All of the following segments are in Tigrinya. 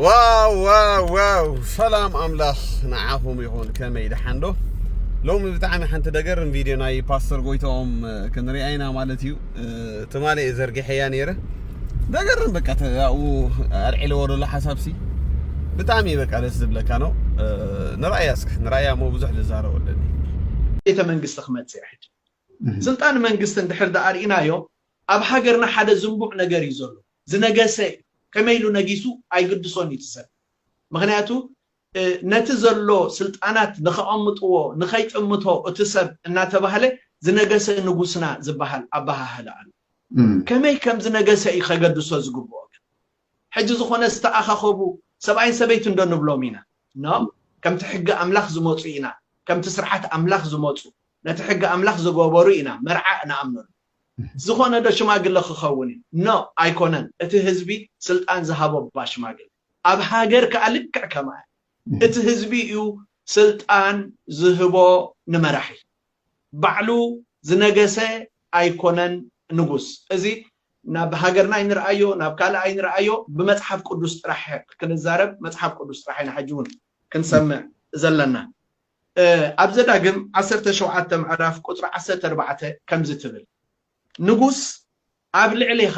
ዋው ዋው ዋው ሰላም ኣምላኽ ንዓኹም ይኹን ከመይ ደሓን ዶ ሎሚ ብጣዕሚ ሓንቲ ደገርም ቪድዮ ናይ ፓስተር ጎይታኦም ክንሪኣ ኢና ማለት እዩ ትማሊ እየ ዘርጊሐያ ነይረ ደገርም በቃ ተኡ ኣልዒለዎ ዘሎ ሓሳብሲ ብጣዕሚ በቃ ደስ ዝብለካ ነው ንራእያ እስኪ ንራእያ እሞ ብዙሕ ልዛረብ ኣለኒ ቤተ መንግስቲ ክመፅእ ሕጂ ስልጣን መንግስቲ እንድሕር ዳኣ ርኢናዮ ኣብ ሃገርና ሓደ ዝንቡዕ ነገር እዩ ዘሎ ዝነገሰ ከመይ ኢሉ ነጊሱ ኣይግድሶን እዩ እቲ ሰብ ምኽንያቱ ነቲ ዘሎ ስልጣናት ንከቐምጥዎ ንከይጥምቶ እቲ ሰብ እናተባህለ ዝነገሰ ንጉስና ዝበሃል ኣበሃህላ ኣሎ ከመይ ከም ዝነገሰ እዩ ከገድሶ ዝግብኦ ግን ሕጂ ዝኾነ ዝተኣኻኸቡ ሰብኣይን ሰበይትን እንዶ ንብሎም ኢና ኖ ከምቲ ሕጊ ኣምላኽ ዝመፁ ኢና ከምቲ ስርዓት ኣምላኽ ዝመፁ ነቲ ሕጊ ኣምላኽ ዝገበሩ ኢና መርዓ ንኣምነሉ ዝኾነ ዶ ሽማግለ ክኸውን እዩ no ኣይኮነን እቲ ህዝቢ ስልጣን ዝሃቦ እባ ሽማግለ ኣብ ሃገር ከኣ ልክዕ ከማያ እቲ ህዝቢ እዩ ስልጣን ዝህቦ ንመራሒ ባዕሉ ዝነገሰ ኣይኮነን ንጉስ እዚ ናብ ሃገርና ኣይንርኣዮ ናብ ካልእ ኣይንርኣዮ ብመጽሓፍ ቅዱስ ጥራሕ ክንዛረብ መጽሓፍ ቅዱስ ጥራሕ ኢና ሕጂ ውን ክንሰምዕ ዘለና ኣብ ዘዳግም ዓሰርተ ሸውዓተ ምዕራፍ ቁጽሪ ዓሰርተ ኣርባዕተ ከምዚ ትብል፣ ንጉስ ኣብ ልዕሌኻ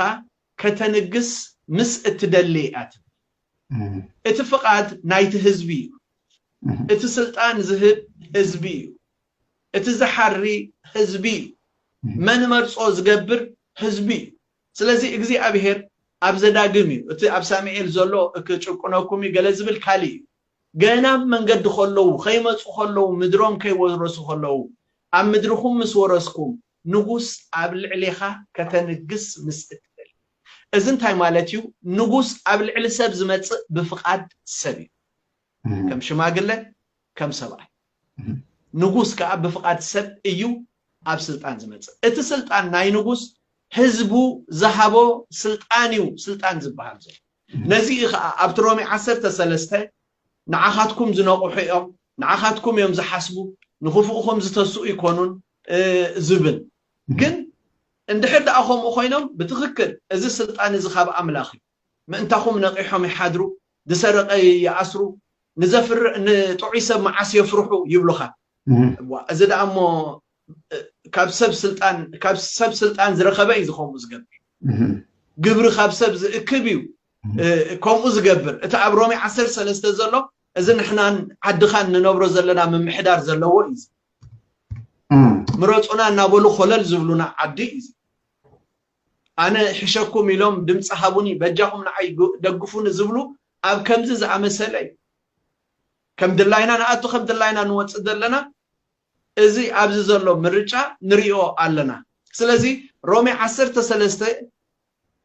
ከተንግስ ምስ እትደሊ ኢያ ትብል። እቲ ፍቓድ ናይቲ ህዝቢ ኢዩ። እቲ ስልጣን ዝህብ ህዝቢ ኢዩ። እቲ ዝሓሪ ህዝቢ ኢዩ። መን እመርጾ ዝገብር ህዝቢ ኢዩ። ስለዚ እግዚኣብሄር ኣብ ዘዳግም ኢዩ፣ እቲ ኣብ ሳሚኤል ዘሎ እክጭቁነኩም ኢዩ ገለ ዝብል ካልእ ኢዩ። ገና ኣብ መንገዲ ኸለዉ፣ ኸይመጹ ኸለዉ፣ ምድሮም ከይወረሱ ኸለዉ፣ ኣብ ምድርኹም ምስ ወረስኩም፣ ንጉስ ኣብ ልዕሌኻ ከተንግስ ምስ እትደሊ። እዚ እንታይ ማለት እዩ? ንጉስ ኣብ ልዕሊ ሰብ ዝመጽእ ብፍቓድ ሰብ እዩ፣ ከም ሽማግለ፣ ከም ሰብኣይ። ንጉስ ከኣ ብፍቓድ ሰብ እዩ ኣብ ስልጣን ዝመጽእ። እቲ ስልጣን ናይ ንጉስ፣ ህዝቡ ዝሃቦ ስልጣን እዩ ስልጣን ዝበሃል ዘሎ። ነዚ እዩ ኸኣ ኣብቲ ሮሜ ዓሰርተ ሰለስተ ንዓኻትኩም ዝነቕሑ እዮም፣ ንዓኻትኩም እዮም ዝሓስቡ፣ ንኽፉእኹም ዝተስኡ ኣይኮኑን ዝብል። ግን እንድሕር ደኣ ከምኡ ኮይኖም ብትኽክል እዚ ስልጣን እዚ ካብ ኣምላኽ እዩ። ምእንታኹም ነቒሖም ይሓድሩ፣ ዝሰረቐ ይኣስሩ፣ ንዘፍር ንጥዑይ ሰብ መዓስ የፍርሑ ይብሉኻ። እዋ እዚ ደኣ እሞ ካብ ሰብ ስልጣን ካብ ሰብ ስልጣን ዝረኸበ እዩ ዝኸምኡ ዝገብር ግብሪ ካብ ሰብ ዝእክብ እዩ ከምኡ ዝገብር እቲ ኣብ ሮሜ ዓሰርተ ሰለስተ ዘሎ እዚ ንሕናን ዓድኻን ንነብሮ ዘለና ምምሕዳር ዘለዎ እዩ እዚ ምረፁና እናበሉ ኮለል ዝብሉና ዓዲ እዩ እዚ ኣነ ሕሸኩም ኢሎም ድምፂ ሃቡኒ በጃኹም ንዓይ ደግፉኒ ዝብሉ ኣብ ከምዚ ዝኣመሰለ እዩ ከም ድላይና ንኣቱ ከም ድላይና ንወፅእ ዘለና እዚ ኣብዚ ዘሎ ምርጫ ንሪኦ ኣለና ስለዚ ሮሜ ዓሰርተ ሰለስተ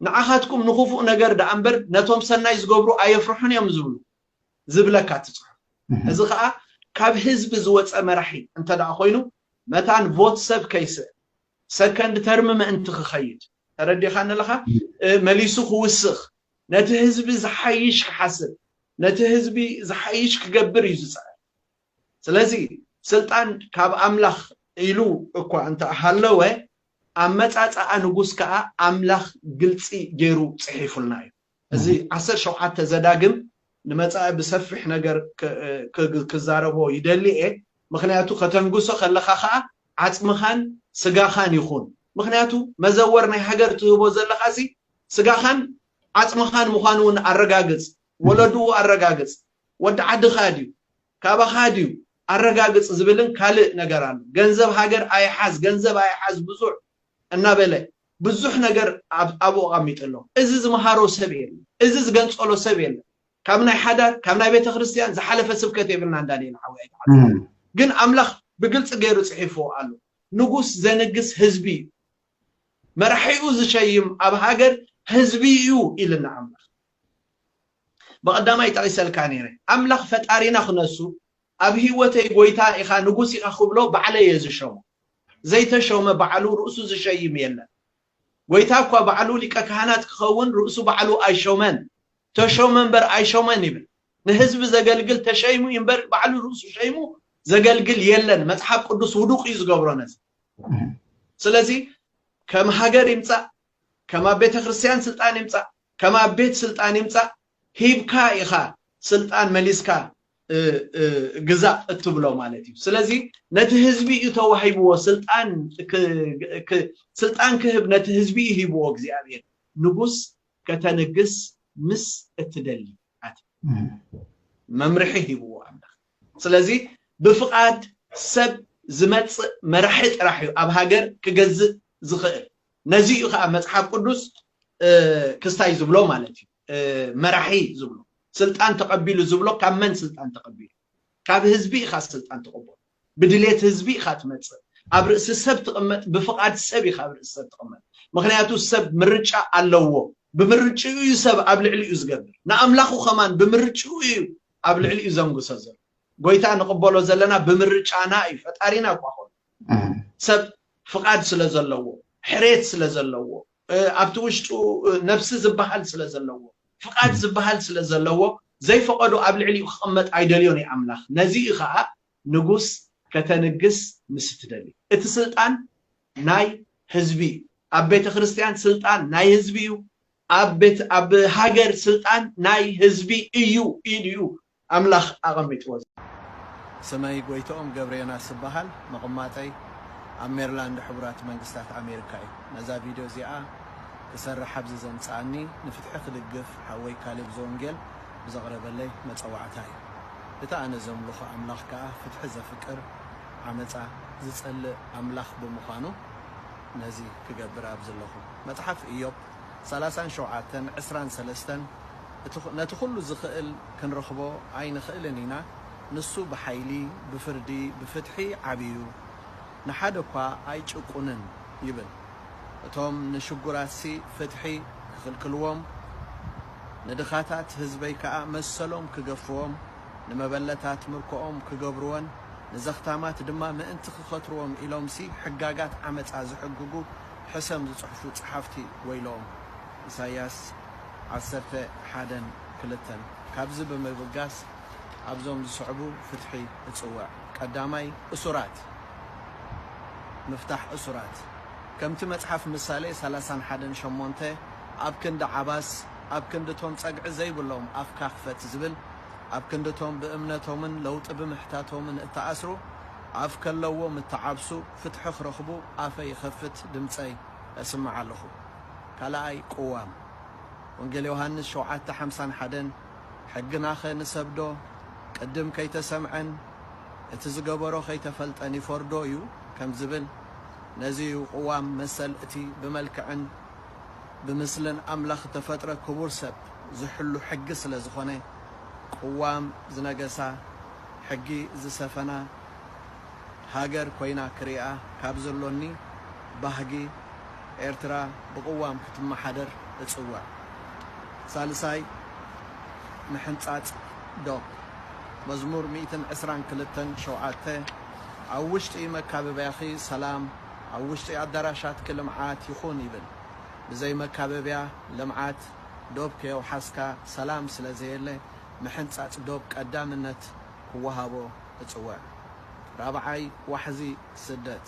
ንዓኻትኩም ንኹፉእ ነገር ደኣ እምበር ነቶም ሰናይ ዝገብሩ ኣየፍርሑን እዮም ዝብሉ ዝብለካ እቲ ጽሑፍ እዚ ከኣ ካብ ህዝቢ ዝወጸ መራሒ እንተ ደኣ ኮይኑ መታን ቮት ሰብ ከይስእ ሰከንድ ተርም ምእንቲ ክኸይድ ተረዲኻኒ ኣለኻ መሊሱ ክውስኽ ነቲ ህዝቢ ዝሓይሽ ክሓስብ ነቲ ህዝቢ ዝሓይሽ ክገብር እዩ ዝጽዕር ስለዚ ስልጣን ካብ ኣምላኽ ኢሉ እኳ እንተ ሃለወ፣ ኣመጻጽኣ ንጉስ ከኣ ኣምላኽ ግልጺ ገይሩ ጽሒፉልና እዩ። እዚ ዓሰርተ ሸውዓተ ዘዳግም ንመጻኢ ብሰፊሕ ነገር ክዛረቦ ይደሊ እየ፣ ምኽንያቱ ከተንግሶ ከለኻ ከኣ ዓጽምኻን ስጋኻን ይኹን፣ ምኽንያቱ መዘወር ናይ ሃገር ትህቦ ዘለኻሲ ስጋኻን ዓጽምኻን ምዃኑ እውን ኣረጋግጽ፣ ወለድኡ ኣረጋግጽ፣ ወዲ ዓድኻ ድዩ ካባኻ ድዩ ኣረጋግጽ ዝብልን ካልእ ነገር ኣሎ ገንዘብ ሃገር ኣይሓዝ ገንዘብ ኣይሓዝ ብዙሕ እናበለ ብዙሕ ነገር ኣብኡ ኣቐሚጡ ኣሎ እዚ ዝመሃሮ ሰብ የለን እዚ ዝገንጸሎ ሰብ የለን ካብ ናይ ሓዳር ካብ ናይ ቤተክርስትያን ዝሓለፈ ስብከት የብልናን ዳንኤል ሓወይ ኣይትሓዝን ግን ኣምላኽ ብግልጺ ገይሩ ጽሒፍዎ ኣሎ ንጉስ ዘንግስ ህዝቢ እዩ መራሒኡ ዝሸይም ኣብ ሃገር ህዝቢ እዩ ኢልና ኣምላኽ ብቐዳማይ ጠቒሰልካ ነይረ ኣምላኽ ፈጣሪና ክነሱ ኣብ ሂወተይ ጎይታ ኢኻ ንጉስ ኢኻ ክብሎ ባዕለይ እየ ዝሸሞ ዘይተሾመ ባዕሉ ርእሱ ዝሸይም የለን ጎይታ እኳ ባዕሉ ሊቀ ካህናት ክኸውን ርእሱ ባዕሉ ኣይሾመን ተሾመ እምበር ኣይሾመን ይብል ንህዝቢ ዘገልግል ተሸይሙ እዩ እምበር ባዕሉ ርእሱ ሸይሙ ዘገልግል የለን መጽሓፍ ቅዱስ ውዱቕ እዩ ዝገብሮ ነዚ ስለዚ ከም ሃገር ይምጻእ ከም ኣብ ቤተ ክርስትያን ስልጣን ይምጻእ ከም ኣብ ቤት ስልጣን ይምጻእ ሂብካ ኢኻ ስልጣን መሊስካ ግዛእ እትብሎ ማለት እዩ ስለዚ ነቲ ህዝቢ እዩ ተዋሂብዎ ስልጣን ስልጣን ክህብ ነቲ ህዝቢ እዩ ሂብዎ እግዚኣብሔር ንጉስ ከተንግስ ምስ እትደሊ ኣቲ መምርሒ ሂብዎ ኣምላኽ ስለዚ ብፍቓድ ሰብ ዝመጽእ መራሒ ጥራሕ እዩ ኣብ ሃገር ክገዝእ ዝኽእል ነዚ እዩ ከዓ መፅሓፍ ቅዱስ ክስታይ ዝብሎ ማለት እዩ መራሒ ዝብሎ ስልጣን ተቐቢሉ ዝብሎ ካብ መን ስልጣን ተቐቢሉ ካብ ህዝቢ ኢኻ ስልጣን ተቐበሉ ብድሌት ህዝቢ ኢኻ ትመፅእ ኣብ ርእሲ ሰብ ትቕመጥ ብፍቓድ ሰብ ኢኻ ኣብ ርእሲ ሰብ ትቕመጥ ምክንያቱ ሰብ ምርጫ ኣለዎ ብምርጭኡ እዩ ሰብ ኣብ ልዕሊኡ ዝገብር ንኣምላኹ ከማን ብምርጭኡ እዩ ኣብ ልዕሊኡ ዘንግሶ ዘሎ ጎይታ ንቕበሎ ዘለና ብምርጫና እዩ ፈጣሪና እኳ ኾኑ ሰብ ፍቓድ ስለ ዘለዎ፣ ሕሬት ስለ ዘለዎ፣ ኣብቲ ውሽጡ ነብሲ ዝበሃል ስለ ዘለዎ፣ ፍቓድ ዝበሃል ስለ ዘለዎ፣ ዘይፈቐዶ ኣብ ልዕሊኡ ክቕመጥ ኣይደልዮን እዩ ኣምላኽ። ነዚ እዩ ኸኣ ንጉስ ከተንግስ ምስ እትደሊ። እቲ ስልጣን ናይ ህዝቢ እዩ። ኣብ ቤተ ክርስትያን ስልጣን ናይ ህዝቢ እዩ። ኣብ ቤት ኣብ ሃገር ስልጣን ናይ ህዝቢ እዩ ኢሉ እዩ ኣምላኽ ኣቐሚጥዎ ዘሎ። ስመይ ጎይትኦም ገብረዮናስ እበሃል። መቕማጠይ ኣብ ሜርላንድ ሕቡራት መንግስታት ኣሜሪካ እዩ። ነዛ ቪድዮ እዚኣ ክሰርሕ ኣብዚ ዘምጽኣኒ ንፍትሒ ክድግፍ ሓወይ ካሌብ ዘወንጌል ብዘቕረበለይ መጸዋዕታ እዩ። እቲ ኣነ ዘምልኾ ኣምላኽ ከኣ ፍትሒ ዘፍቅር ዓመጻ ዝጸልእ ኣምላኽ ብምዃኑ ነዚ ክገብር ኣብዚ ኣለኹ። መጽሓፍ እዮብ ሰላሳን ሸውዓተን ዕስራን ሰለስተን እቲ ነቲ ኩሉ ዝኽእል ክንረኽቦ ኣይንኽእልን ኢና ንሱ ብሓይሊ ብፍርዲ ብፍትሒ ዓብዩ ንሓደ እኳ ኣይጭቁንን ይብል እቶም ንሽጉራትሲ ፍትሒ ክኽልክልዎም ንድኻታት ህዝበይ ከኣ መሰሎም ክገፍዎም ንመበለታት ምርኮኦም ክገብርወን ንዘኽታማት ድማ ምእንቲ ክኸትርዎም ኢሎምሲ ሕጋጋት ዓመጻ ዝሕግጉ ሕሰም ዝጽሕፉ ጸሓፍቲ ወይለኦም። ኢሳይያስ ዓሰርተ ሓደን ክልተን። ካብዚ ብምብጋስ ኣብዞም ዝስዕቡ ፍትሒ እጽውዕ። ቀዳማይ፣ እሱራት ምፍታሕ እሱራት። ከምቲ መጽሓፍ ምሳሌ ሰላሳን ሓደን ሸሞንተ ኣብ ክንዲ ዓባስ ኣብ ክንዲ እቶም ጸግዒ ዘይብሎም ኣፍካ ክፈት ዝብል፣ ኣብ ክንዲ እቶም ብእምነቶምን ለውጢ ብምሕታቶምን እተኣስሩ ኣፍ ከለዎም እተዓብሱ፣ ፍትሒ ክረኽቡ ኣፈይ ይኸፍት ድምጸይ እስምዕ ኣለኹ ካላኣይ ቅዋም ወንጌል ዮሃንስ ሸውዓተ ሓምሳን ሓደን ሕግናኸ ንሰብዶ ቅድም ከይተሰምዐን እቲ ዝገበሮ ከይተፈልጠን ይፈርዶ እዩ ከም ዝብል ነዚ እዩ ቅዋም መሰል እቲ ብመልክዕን ብምስልን ኣምላኽ እተፈጥረ ክቡር ሰብ ዝሕሉ ሕጊ ስለ ዝኾነ ቅዋም ዝነገሳ ሕጊ ዝሰፈና ሃገር ኮይና ክሪኣ ካብ ዘሎኒ ባህጊ ኤርትራ ብቅዋም ክትመሓደር እጽውዕ። ሳልሳይ ምሕንጻጽ ዶብ መዝሙር ሚእትን ዕስራን ክልተን ሸውዓተ ኣብ ውሽጢ መካበብያኺ ሰላም ኣብ ውሽጢ ኣዳራሻትኪ ልምዓት ይኹን ይብል። ብዘይ መካበብያ ልምዓት ዶብ ከየውሓስካ ሰላም ስለዘየለ ምሕንጻጽ ዶብ ቀዳምነት ክወሃቦ እጽውዕ። ራብዓይ ዋሕዚ ስደት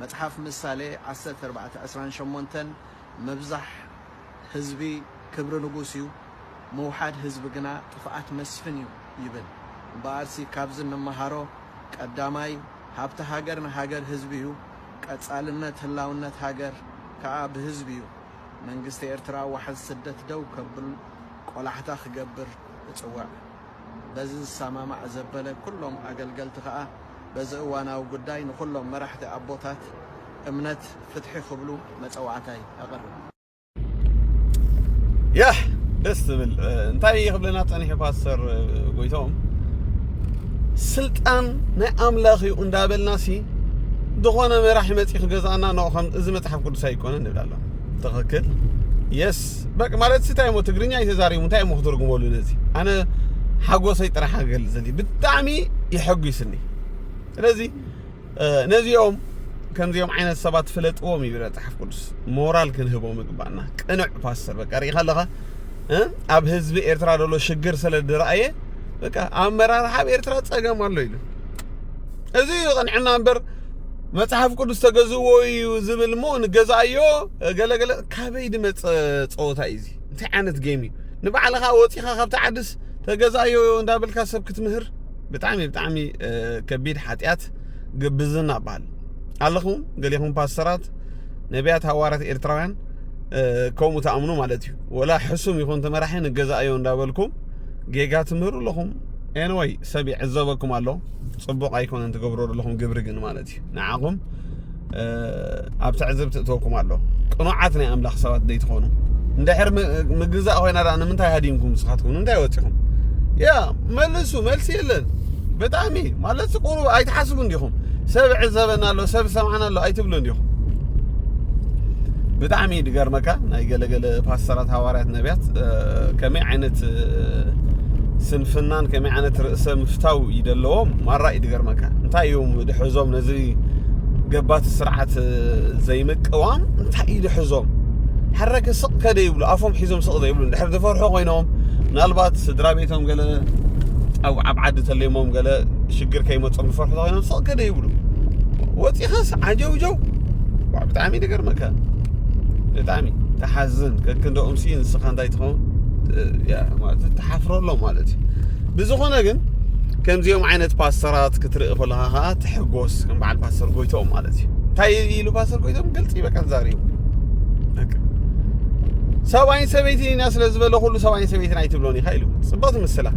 መጽሓፍ ምሳሌ ዓሰርተ ኣርባዕተ ዕስራን ሸሞንተን ምብዛሕ ህዝቢ ክብሪ ንጉስ እዩ፣ ምውሓድ ህዝቢ ግና ጥፍኣት መስፍን እዩ ይብል። እምበኣርሲ ካብዚ እንመሃሮ ቀዳማይ ሃብቲ ሃገር ንሃገር ህዝቢ እዩ፣ ቀጻልነት ህላውነት ሃገር ከኣ ብህዝቢ እዩ። መንግስቲ ኤርትራ ዋሕዚ ስደት ደው ከብል ቆላሕታ ክገብር እጽውዕ። በዚ ዝሰማማዕ ዘበለ ኩሎም ኣገልገልቲ ከኣ በዚ እዋናዊ ጉዳይ ንኹሎም መራሕቲ ኣቦታት እምነት ፍትሒ ክብሉ መጸዋዕታይ ኣቐርብ። ያህ ደስ ዝብል እንታይ ይኽብለና ጸኒሑ ፓስተር ጎይቶም ስልጣን ናይ ኣምላኽ እዩ እንዳበልና ሲ ዝኾነ መራሒ መጺ ክገዛእና ን ከም እዚ መጽሓፍ ቅዱስ ኣይኮነን ንብላለን ትኽክል የስ በቃ ማለት እንታይ እሞ ትግርኛ ኣይተዛሪቡ እንታይ እሞ ክትርጉመሉ ነዚ ኣነ ሓጎሰይ ጥራሕ ክገልፅ ዘሊ ብጣዕሚ የሐጒስኒ ስለዚ ነዚኦም ከምዚኦም ዓይነት ሰባት ፍለጥዎም ይብል መፅሓፍ ቅዱስ ሞራል ክንህቦም ይግባእና ቅኑዕ ፓስተር በቃ ርኢኻ ኣለኻ ኣብ ህዝቢ ኤርትራ ዘሎ ሽግር ስለ ድረኣየ በቃ ኣመራርሓ ኣብ ኤርትራ ፀገም ኣሎ ኢሉ እዚ ቅንዕና እምበር መጽሐፍ ቅዱስ ተገዝዎ እዩ ዝብል እሞ ንገዛእዮ ገለገለ ካበይ ድመጸ ጸወታ እዩ እዚ እንታይ ዓይነት ጌም እዩ ንባዕልኻ ወጺኻ ካብቲ ዓድስ ተገዛዮ እንዳበልካ ሰብ ክትምህር ብጣዕሚ ብጣዕሚ ከቢድ ሓጢኣት ግብዝና በሃል ኣለኹም ገሌኹም ፓስተራት ነቢያት ሃዋርያት ኤርትራውያን ከምኡ ትኣምኑ ማለት እዩ ወላ ሕሱም ይኹን ተመራሒ ንገዛእዮ እንዳበልኩም ጌጋ ትምህሩ ኣለኹም ኤንወይ ሰብ ይዕዘበኩም ኣሎ ጽቡቕ ኣይኮነን ትገብሮ ዘለኹም ግብሪ ግን ማለት ንዓኹም ኣብ ትዕዝብቲ እትወኩም ኣሎ ቅኑዓት ናይ ኣምላኽ ሰባት ዘይትኾኑ እንድሕር ምግዛእ ኮይና ዳኣ ንምንታይ ሃዲምኩም ንስኻትኩም ንምንታይ ወፂኹም ያ መልሱ መልሲ የለን ብጣዕሚ ማለት ቁሩብ ኣይትሓስቡ እንዲኹም ሰብ ዕዘበና ኣሎ ሰብ ሰምዓና ኣሎ ኣይትብሉ እንዲኹም ብጣዕሚ ድገርመካ ናይ ገለገለ ፓስተራት ሃዋርያት ነቢያት ከመይ ዓይነት ስንፍናን ከመይ ዓይነት ርእሰ ምፍታው እዩ ዘለዎም ማራ እዩ ዝገርመካ እንታይ እዮም ድሕዞም ነዚ ገባቲ ስርዓት ዘይምቅዋም እንታይ እዩ ድሕዞም ሓረከ ስቕ ከደ ይብሉ ኣፎም ሒዞም ስቕ ዘይብሉ ድሕር ዝፈርሑ ኮይኖም ምናልባት ስድራ ቤቶም ገለ ኣብ ኣብ ዓዲ ተለሞም ገለ ሽግር ከይመፆም ዝፈርሑ ኮይኖም ስቕ ከደ ይብሉ ወፂኻስ ዓጀውጀው ብጣዕሚ ይገርመካ ብጣዕሚ ተሓዝን ከክንደኦም ሲ ንስኻ እንታይ ትኸውን ተሓፍረሎም ማለት እዩ ብዝኾነ ግን ከምዚኦም ዓይነት ፓስተራት ክትርኢ ከለኻ ከዓ ትሕጎስ ከም በዓል ፓስተር ጎይቶም ማለት እዩ እንታይ ኢሉ ፓስተር ጎይቶም ግልፂ በቃ ዛሪቡ ሰብኣይን ሰበይትን ኢና ስለ ዝበለ ኩሉ ሰብኣይን ሰበይትን ኣይትብሎን ኢኻ ኢሉ ፅብቕቲ ምስላ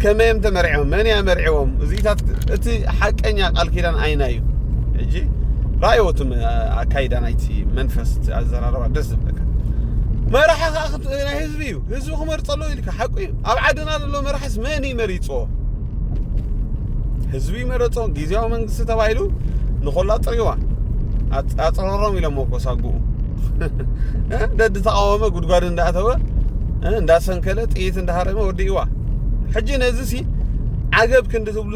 ከመይ እዮም ተመርዒቦም መን እያ መርዒቦም እዚታት እቲ ሓቀኛ ቃል ኪዳን ኣይና እዩ ሕጂ ራእዮ እቲ ኣካይዳ ናይቲ መንፈስ እቲ ኣዘራርባ ደስ ዝብለካ መራሒ ከዓ ናይ ህዝቢ እዩ ህዝቢ ክመርፆ ኣለዎ ኢልካ ሓቁ እዩ ኣብ ዓድና ዘሎ መራሒስ መን እዩ መሪፅዎ ህዝቢ መረፆ ግዜያዊ መንግስቲ ተባሂሉ ንኮላ ጥሪዋ ኣፅረሮም ኢሎሞ እኮ ሳጉኡ ደዲ ተቃወመ ጉድጓድ እንዳእተወ እንዳሰንከለ ጥይት እንዳሃረመ ወዲእዋ ሕጂ ነዚ ሲ ዓገብ ክንዲ ትብሉ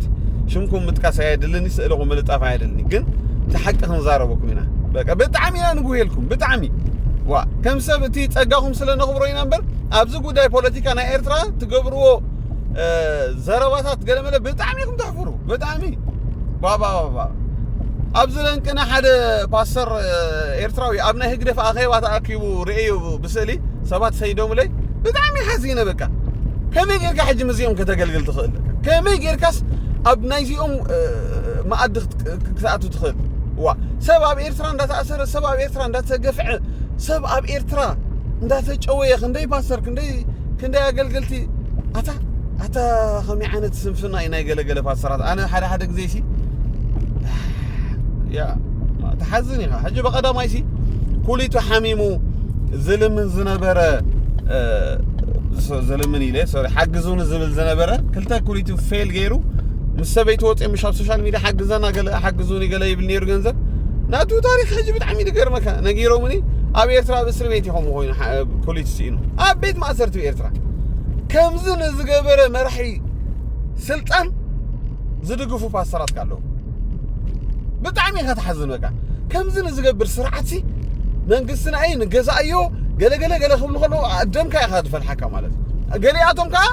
ፖስት ሽምኩም ምጥቃስ ኣየድልን ስእልኹም ምልጣፍ ኣየድልኒ ግን እቲ ሓቂ ክንዛረበኩም ኢና በቃ ብጣዕሚ ኢና ንጉሄልኩም ብጣዕሚ ዋ ከም ሰብ እቲ ጸጋኹም ስለ ነኽብሮ ኢና እምበር ኣብዚ ጉዳይ ፖለቲካ ናይ ኤርትራ ትገብርዎ ዘረባታት ገለመለ ብጣዕሚ ኢኹም ተሕፍሩ ብጣዕሚ ባባባባ ኣብዚ ለንቅነ ሓደ ፓስተር ኤርትራዊ ኣብ ናይ ህግደፍ ኣኼባ ተኣኪቡ ርእዩ ብስእሊ ሰባት ሰይዶምለይ ብጣዕሚ ሓዚነ በቃ ከመይ ጌርካ ሕጂ ምስዚኦም ከተገልግል ትኽእል ከመይ ጌርካስ ኣብ ናይዚኦም መኣዲ ክትኣቱ ትኽእል ዋ ሰብ ኣብ ኤርትራ እንዳተኣሰረ ሰብ ኣብ ኤርትራ እንዳተገፍዐ ሰብ ኣብ ኤርትራ እንዳተጨወየ ክንደይ ፓስተር ክንደይ ክንደይ ኣገልገልቲ ኣታ ኣታ ከመይ ዓይነት ስንፍና እዩ ናይ ገለገለ ፓስተራት ኣነ ሓደ ሓደ ግዜ ሲ ያ ተሓዝን ኢኻ ሕጂ ብቐዳማይ ሲ ኩሊቱ ሓሚሙ ዝልምን ዝነበረ ዝልምን ኢለ ሶሪ ሓግዙኒ ዝብል ዝነበረ ክልተ ኩሊቱ ፌል ገይሩ ምስ ሰበይቲ ወፂኦ ምሽ ኣብ ሶሻል ሚድያ ሓግዘና ገለ ሓግዙኒ ገለ ይብል ነይሩ ገንዘብ ናቱ ታሪክ ሕጂ ብጣዕሚ ዝገርመካ ነጊሮምኒ ኣብ ኤርትራ ኣብ እስሪ ቤት ይኸም ኮይኑ ኩሊቱ ስኢኑ ኣብ ቤት ማእሰርቲ ኤርትራ ከምዚ ንዝገበረ መራሒ ስልጣን ዝድግፉ ፓስተራት ኣለዉ ብጣዕሚ ኢኻ ትሓዝን በቃ ከምዚ ንዝገብር ስርዓትሲ መንግስትና እዩ ንገዛእዮ ገለገለ ገለ ክብሉ ከለዉ ደምካ ኢኻ ዝፈልሓካ ማለት እዩ ገሊኣቶም ከዓ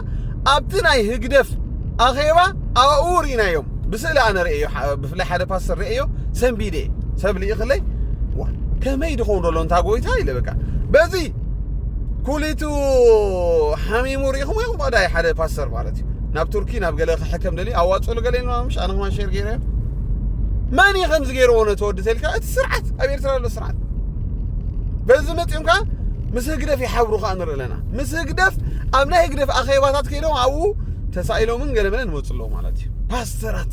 ኣብቲ ናይ ህግደፍ ኣኼባ ኣብኡ ርኢናዮም ብስእሊ ኣነ ርእዮ ብፍላይ ሓደ ፓስተር ርእዮ ሰንቢደ ሰብ ልኢኽለይ ከመይ ድኸውን ደሎ እንታ ጎይታ ኢለ በቃ በዚ ኩሊቱ ሓሚሙ ርኢኹምዎ ኢኹም ኣዳይ ሓደ ፓስተር ማለት እዩ ናብ ቱርኪ ናብ ገለ ክሕከም ደልዩ ኣዋፅእሉ ገለ ኢልማ ምሽ ኣነ ክማን ሸር ገይረ መን እዩ ከምዚ ገይርዎ ነቲ ወዲ ተልካ እቲ ስርዓት ኣብ ኤርትራ ዘሎ ስርዓት በዚ መፂኦም ከዓ ምስ ህግደፍ ይሓብሩ ከዓ ንርኢ ኣለና ምስ ህግደፍ ኣብ ናይ ህግደፍ ኣኼባታት ከይዶም ኣብኡ ተሳኢሎምን ገለመለን ይመፁ ኣለዉ ማለት እዩ ፓስተራት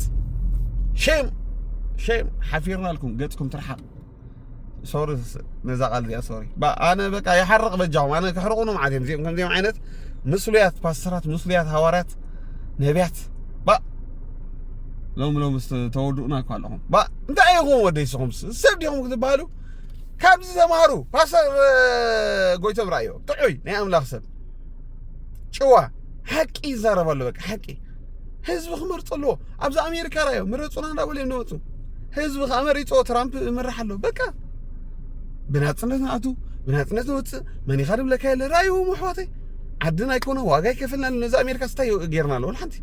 ሸም ሸም ሓፊርናልኩም ገፅኩም ትርሓቕ ሶሪ ነዛ ቃል እዚኣ ሶሪ ኣነ በቃ ይሓርቕ በጃኹም ኣነ ክሕርቑኑ መዓት እዮም እዚኦም ከምዚኦም ዓይነት ምስሉያት ፓስተራት ምስሉያት ሃዋርያት ነቢያት ባ ሎሚ ሎሚ ተወድኡና እኳ ኣለኹም ባ እንታይ ኢኹም ወደይ ስኹም ሰብ ዲኹም ክትበሃሉ ካብዚ ተምሃሩ ፓስተር ጎይቶም ራእዮ ጥዑይ ናይ ኣምላኽ ሰብ ጭዋ ሓቂ ይዛረብ ኣሎ በቃ ሓቂ ህዝቢ ክመርፆ ኣለዎ ኣብዚ ኣሜሪካ ራዮ ምረፁና እንዳበሉ እዮም ዝመፁ ህዝቢ ከዓ መሪፆ ትራምፕ ምራሕ ኣለዎ በቃ ብናፅነት ንኣቱ ብናፅነት ንወፅእ መን ኢኻ ድብለካ የለ ራይዎም ኣሕዋተይ ዓድና ኣይኮነ ዋጋ ይከፍልና ነዚ ኣሜሪካ ስታይ ጌርና ኣለዎ ሓንቲ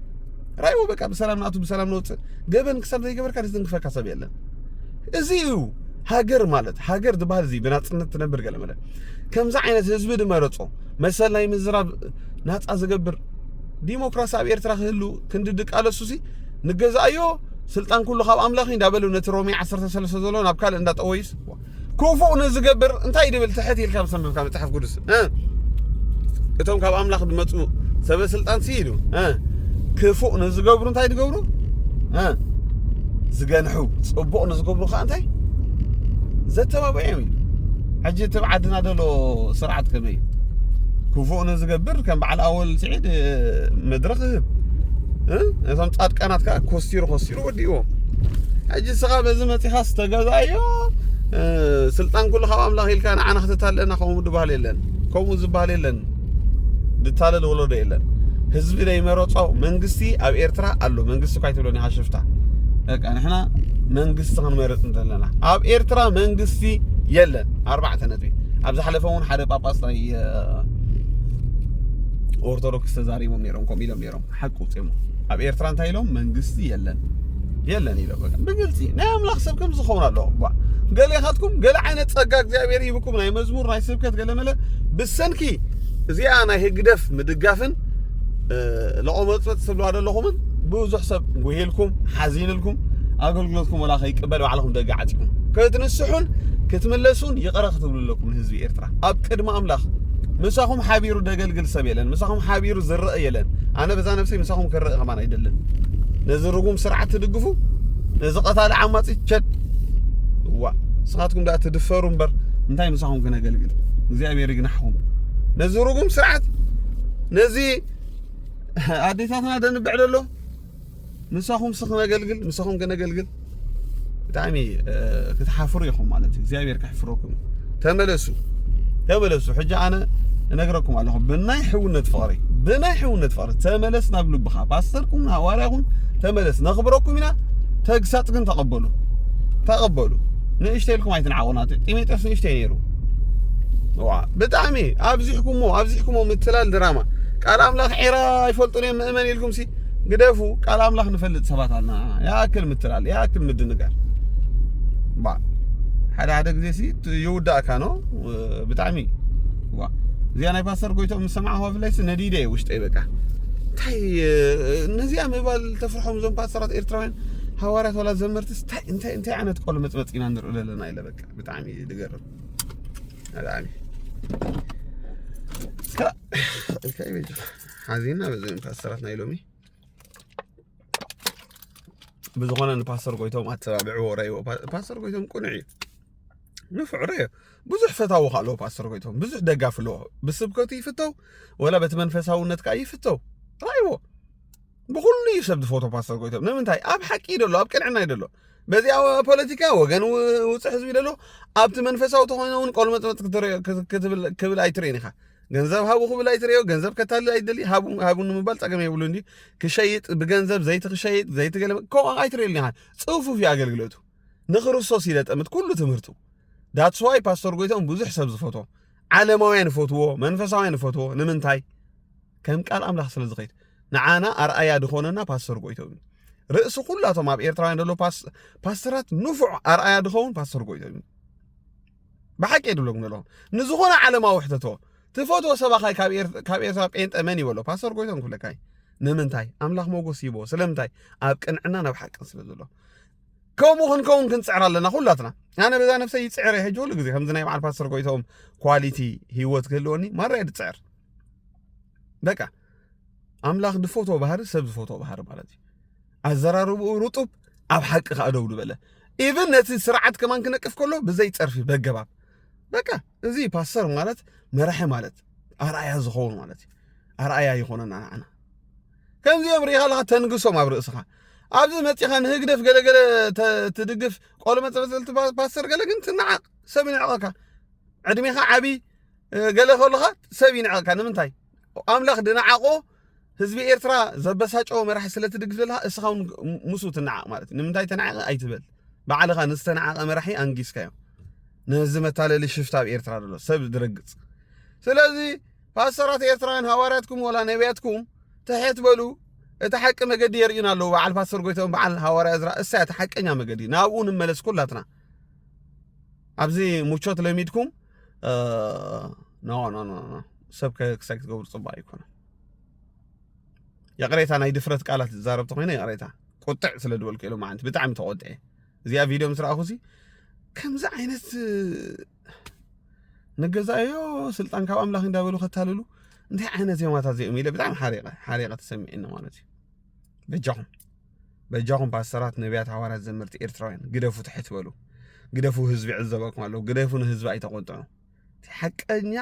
ራይዎ በቃ ብሰላም ንኣቱ ብሰላም ንወፅእ ገበን ክሳብ ዘይገበርካ ዝትንክፈካ ሰብ የለን እዚ እዩ ሃገር ማለት ሃገር ዝበሃል እዚ ብናፅነት ትነብር ገለ መለ ከምዚ ዓይነት ህዝቢ ድመረፆ መሰል ናይ ምዝራብ ናፃ ዝገብር ዲሞክራሲ ኣብ ኤርትራ ክህሉ ክንዲ ድቃለሱሲ ንገዛእዮ ስልጣን ኩሉ ካብ ኣምላኽ እዩ እንዳበሉ ነቲ ሮሜ 13 ዘሎ ናብ ካልእ እንዳጠወዩስ ክፉእ ንዝገብር እንታይ ድብል ትሕት ኢልካ ምሰምብካ መጽሓፍ ቅዱስ እቶም ካብ ኣምላኽ ዝመፁ ሰበ ስልጣን ሲ ኢሉ ክፉእ ንዝገብሩ እንታይ ዝገብሩ ዝገንሑ ፅቡቕ ንዝገብሩ ከዓ እንታይ ዘተባብዕዮም እዩ ሕጂ እቲ ኣብ ዓድና ዘሎ ስርዓት ከመይ እዩ ክፉእ ንዝገብር ከም በዓል ኣወል ስዒድ መድረኽ ይህብ እቶም ፃድቃናት ከዓ ኮስቲሩ ኮስቲሩ ወዲእዎ ሕጂ ስኻ በዚ መፂኻ ዝተገዛዮ ስልጣን ኩሉ ካብ ኣምላኽ ኢልካ ንዓና ክተታልለና ከምኡ ድበሃል የለን ከምኡ ዝበሃል የለን ድታለል ወለዶ የለን ህዝቢ ዘይመረጾ መንግስቲ ኣብ ኤርትራ ኣሎ መንግስቲ እኳ ኣይትብሎን ኢኻ ሽፍታ በቃ ንሕና መንግስቲ ክንመርጽ እንተለና ኣብ ኤርትራ መንግስቲ የለን ኣርባዕተ ነጥቢ ኣብ ዝሓለፈ እውን ሓደ ጳጳስ ናይ ኦርቶዶክስ ተዛሪቦም ነይሮም ከምኡ ኢሎም ነይሮም ሓቂ ውፅኦም ኣብ ኤርትራ እንታይ ኢሎም መንግስቲ የለን የለን ኢሎ በቃ ብግልፂ ናይ ኣምላኽ ሰብ ከምዚ ዝኸውን ኣለዎ እባ ገሌኻትኩም ገለ ዓይነት ጸጋ እግዚኣብሔር ይህብኩም ናይ መዝሙር ናይ ስብከት ገለመለ ብሰንኪ እዚኣ ናይ ህግደፍ ምድጋፍን ለቆመፅመፅ ትብልዋ ዘለኹምን ብዙሕ ሰብ ጉሂልኩም ሓዚንልኩም ኣገልግሎትኩም ወላ ከይቅበል ባዕልኹም ደገ ዓፂኹም ክትንስሑን ክትምለሱን ይቕረ ክትብሉ ኣለኩም ንህዝቢ ኤርትራ ኣብ ቅድሚ ኣምላኽ ምሳኹም ሓቢሩ ደገልግል ዝኣክል ሰብ የለን ምሳኹም ሓቢሩ ዝረእ የለን ኣነ በዛ ነብሰይ ምሳኹም ክረእ ከማን ኣይደልን ነዚ ርጉም ስርዓት ትድግፉ ነዚ ቀታሊ ዓማፂ ቸድ ዋ ንስኻትኩም ዳኣ ትድፈሩ እምበር እንታይ ምሳኹም ክነገልግል እግዚኣብሔር ይግናሕኹም ነዚ ርጉም ስርዓት ነዚ ኣዴታትና ደንብዕ ደሎ ምሳኹምስ ክነገልግል ምሳኹም ከነገልግል ብጣዕሚ ክትሓፍሩ ኢኹም ማለት እዩ እግዚኣብሔር ከሕፍረኩም ተመለሱ ተመለሱ ሕጂ ኣነ እነግረኩም ኣለኹ ብናይ ሕውነት ፍቕሪ ብናይ ሕውነት ፍቕሪ ተመለስ ናብ ልብኻ ፓስተርኩም ሃዋርያኹም ተመለስ ነኽብረኩም ኢና ተግሳፅ ግን ተቐበሉ ተቐበሉ ንእሽተይ ኢልኩም ኣይትንዓቑና ጢሞቴዎስ ንእሽተይ ነይሩ ብጣዕሚ ኣብዚሕኩሞ ኣብዚሕኩሞ ምትላል ድራማ ቃል ኣምላኽ ዒራ ኣይፈልጡን እዮም ምእመን ኢልኩም ሲ ግደፉ ቃል ኣምላኽ ንፈልጥ ሰባት ኣና ያኣክል ምትላል ያኣክል ምድንጋር ባ ሓደ ሓደ ግዜ ሲ ይውዳእካ ኖ ብጣዕሚ ዋ እዚኣ ናይ ፓስተር ጎይቶም ምስ ሰማዕኹ ብፍላይሲ ነዲደ እየ ውሽጠይ በቃ እንታይ ነዚኣ ምባል ተፍርሖም እዞም ፓስተራት ኤርትራውያን ሃዋርያት ዋላ ዘመርቲ እንታይ እንታይ ዓይነት ቆሎ መፅመፅ ኢና ንርኢ ዘለና ኢለ በቃ ብጣዕሚ ዝገርም ብጣዕሚ ሓዚና በዘን ፓስተራት ናይ ሎሚ ብዝኾነ ንፓስተር ጎይቶም ኣተባብዕዎ ረይዎ ፓስተር ጎይቶም ቁኑዕ እዩ ንፍዕ ረዮ ብዙሕ ፈታዊ ከ ኣለዎ ፓስተር ጎይቶም ብዙሕ ደጋፊ ኣለዎ ብስብከቱ ይፍተው ወላ በቲ መንፈሳውነት ከዓ ይፍተው ራይዎ ብኩሉ እዩ ሰብ ዝፈቶ ፓስተር ጎይቶም ንምንታይ ኣብ ሓቂ እዩ ደሎ ኣብ ቅንዕና እዩ ደሎ በዚ ፖለቲካ ወገን ውፅዕ ህዝቢ ደሎ ኣብቲ መንፈሳዊ ተኮይነ እውን ቆልመፅመፅ ክትብል ኣይትርእን ኢኻ ገንዘብ ሃቡ ክብል ኣይትርእዮ፣ ገንዘብ ከታልል ኣይደሊ፣ ሃቡ ሃቡ ንምባል ጸገም የብሉን ድዩ? ክሸይጥ ብገንዘብ ዘይቲ ክሸይጥ ዘይቲ ገለ ከምኡ ኣይትርእየሉ ኢኻ። ጽፉፍ እዩ ኣገልግሎቱ። ንክርስቶስ እዩ ዘጠምት ኩሉ ትምህርቱ። ዳትስ ዋይ ፓስቶር ጎይቶም ብዙሕ ሰብ ዝፈትዎ ዓለማውያን ይፈትዎ፣ መንፈሳውያን ይፈትዎ። ንምንታይ? ከም ቃል ኣምላኽ ስለ ዝኸይድ ንዓና ኣርኣያ ድኾነና ፓስቶር ጎይቶም እዩ። ርእሲ ኩላቶም ኣብ ኤርትራውያን ዘሎ ፓስ- ፓስተራት ንፉዕ ኣርኣያ ድኸውን ፓስቶር ጎይቶም እዩ። ብሓቂ እየ ድብለኩም ዘለኹ ንዝኾነ ዓለማዊ ሕተቶ ትፈትዎ ሰባኻይ ካብ ኤርትራ ጴንጠ መን ይበሎ ፓስተር ጎይቶም ክብለካይ ንምንታይ ኣምላኽ ሞጎስ ይቦ ስለምንታይ ኣብ ቅንዕና ናብ ሓቅን ስለ ዘሎ ከምኡ ክንከውን ክንፅዕር ኣለና ኩላትና ኣነ በዛ ነፍሰይ ይፅዕር እየ ሕጂ ኩሉ ግዜ ከምዚ ናይ በዓል ፓስተር ጎይቶም ኳሊቲ ሂወት ክህልወኒ ማራ እየ ድፅዕር በቃ ኣምላኽ ዝፈትዎ ባህሪ ሰብ ዝፈትዎ ባህሪ ማለት እዩ ኣዘራርብኡ ርጡብ ኣብ ሓቂ ከኣ ደው ዝበለ ኢቭን ነቲ ስርዓት ከማን ክነቅፍ ከሎ ብዘይ ጸርፊ በገባብ በቃ እዚ ፓስተር ማለት መራሒ ማለት ኣርኣያ ዝኸውን ማለት እዩ ኣርኣያ ይኾነና ንዓና ከምዚኦም ርኢኻ ኣለኻ ተንግሶም ኣብ ርእስኻ ኣብዚ መፂኻ ንህግደፍ ገለገለ ትድግፍ ቆሎ መፀበፀልቲ ፓስተር ገለ ግን ትናዓቕ ሰብ ይንዕቐካ ዕድሜኻ ዓብይ ገለ ከለኻ ሰብ ይንዕቐካ ንምንታይ ኣምላኽ ድንዓቆ ህዝቢ ኤርትራ ዘበሳጨዎ መራሒ ስለ ትድግፍ ዘለኻ እስኻ እውን ምስኡ ትነዓቕ ማለት እዩ ንምንታይ ተነዓቐ ኣይትበል ባዕልኻ ንዝተነዓቐ መራሒ ኣንጊስካዮ ነዚ መታለሊ ሽፍታ ኣብ ኤርትራ ዘሎ ሰብ ዝረግጽ ስለዚ ፓስተራት ኤርትራውያን ሃዋርያትኩም ወላ ነቢያትኩም ትሕት በሉ እቲ ሓቂ መገዲ የርእዩና ኣለዉ በዓል ፓስተር ጎይታኦም በዓል ሃዋርያ እዝራ እሳያ እቲ ሓቀኛ መገዲ ናብኡ ንመለስ ኩላትና ኣብዚ ሙቾት ለሚድኩም ኖ ኖ ኖ ኖ ሰብ ክሳይ ክትገብሩ ፅቡቅ ኣይኮነ ይቕሬታ ናይ ድፍረት ቃላት ዝዛረብ ተኮይነ ይቕሬታ ቁጥዕ ስለ ዝበልኩ ኢሎም መዓንቲ ብጣዕሚ ተቆጥዐ እዚኣ ቪድዮ ምስ ረኣኹ ሲ ከምዚ ዓይነት ንገዛዮ ስልጣን ካብ ኣምላኽ እንዳበሉ ከታልሉ እንታይ ዓይነት ዜማታት እዚኦም ኢለ ብጣዕሚ ሓሪቐ ሓሪቐ ተሰሚዕኒ ማለት እዩ በጃኹም በጃኹም ፓስተራት ነቢያት ሃዋርያት ዘመርቲ ኤርትራውያን ግደፉ ትሕት በሉ ግደፉ ህዝቢ ዕዘበኩም ኣለዉ ግደፉ ንህዝቢ ኣይተቆጥዑ ሓቀኛ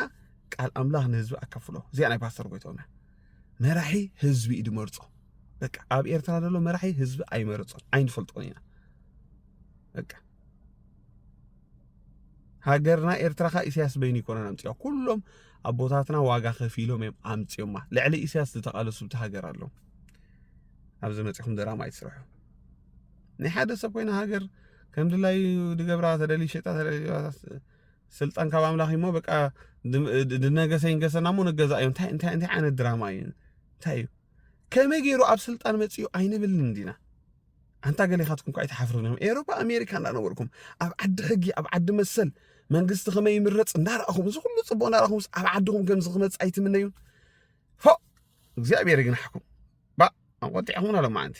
ቃል ኣምላኽ ንህዝቢ ኣካፍሎ እዚኣ ናይ ፓስተር ጎይቶና መራሒ ህዝቢ እዩ ድመርፆ በቃ ኣብ ኤርትራ ዘሎ መራሒ ህዝቢ ኣይመረፆን ኣይንፈልጦን ኢና በቃ ሃገርና ኤርትራ ካ ኢሳያስ በይኑ ይኮነን ኣምጽኦ ኩሎም ኣቦታትና ዋጋ ከፊሎም እዮም ኣምጽኦማ ልዕሊ ኢሳያስ ዝተቃለሱ ብቲ ሃገር ኣለዉ ኣብዚ መጺኹም ድራማ ይስርሑ ናይ ሓደ ሰብ ኮይና ሃገር ከም ድላዩ ድገብራ ተደልዩ ሸጣ ተደልዩ ስልጣን ካብ ኣምላኽ እሞ በቃ ድነገሰ ይንገሰና እሞ ንገዛ እዩ እንታይ እንታይ እንታይ ዓይነት ድራማ እዩ እንታይ እዩ ከመይ ገይሩ ኣብ ስልጣን መጽኡ ኣይንብልን እንዲና ኣንታ ገሌኻትኩም እኳ ኣይትሓፍሩን ኢኹም ኤሮፓ ኣሜሪካ እንዳነበርኩም ኣብ ዓዲ ሕጊ ኣብ ዓዲ መሰል መንግስቲ ከመይ ይምረፅ እንዳረኣኹም እዚ ኩሉ ፅቡቅ እንዳረኣኹም ኣብ ዓድኹም ከምዚ ክመፅእ ኣይትምነዩን ፎ እግዚኣብሔር ይግናሕኩም ባ ኣቆጢዕኹምና ሎማዓንቲ